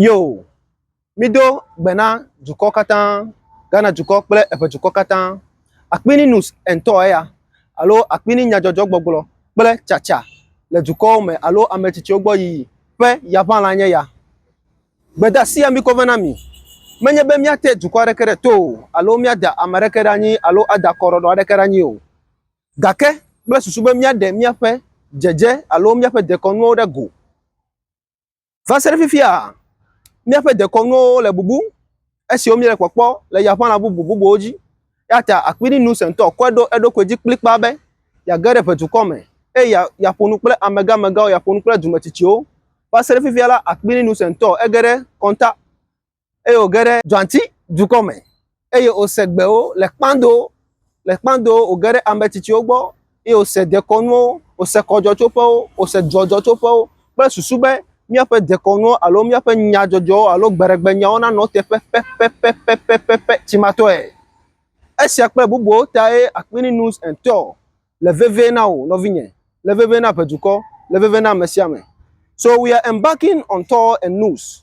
Yo, mido gbe na dukɔ katã, Ghana dukɔ kple eƒe dukɔ katã. Akpini nus entɔ eya alo akpini nyadzɔdzɔgbɔgblɔ kple tsatsa le dukɔwo me alo ame tsitsiwo gbɔ yiyi ƒe yaʋãla nye ya. Gbedasia mikɔ vɛ na mi. Menye be míate dukɔ aɖeke ɖe to o alo míada ame aɖeke ɖe anyi alo ada kɔɖɔɖɔ aɖeke ɖe anyi o. gake kple susu be míaɖe míaƒe dzedze alo míaƒe dekɔnuwo ɖe go. Va se ɖe fifia, míaƒe dekɔnuwo le bubu esiwo míele kpɔkpɔ le yaƒãla bubu bubuwo dzi. Eya ta akpininu sẽtɔ kɔe ɖo eɖokui dzi kplikpaa be yeage ɖe ʋedukɔ me eye ya, yaƒo nu kple amegãmegãwo, yaƒo nu kple dumetsitsiwo. Va se ɖe fifia la, akpininu sẽtɔ ege ɖe kɔnta eye wòge ɖe Dzɔati dukɔ me, eye wòse gbewo le kpando, le kpando wòge ɖe ame tsitsiwo gbɔ, eye wòse dekɔnuwo, wòse kɔdzɔtsoƒewo, wòse dzɔdzɔtsoƒewo kple susu be míaƒe dekɔnuwo alo míaƒe nyadzɔdzɔwo alo gbeɖegbenyawo nanɔ teƒe pɛpɛpɛpɛpɛpɛpɛ tsimatɔe. Esia kple bubuawo tae Aquillinus et al. Le vevie na wò, nɔvinye, le vevie na ʋe dukɔ, le vevie na ame sia ame. So we are embarking on Thor and Nus.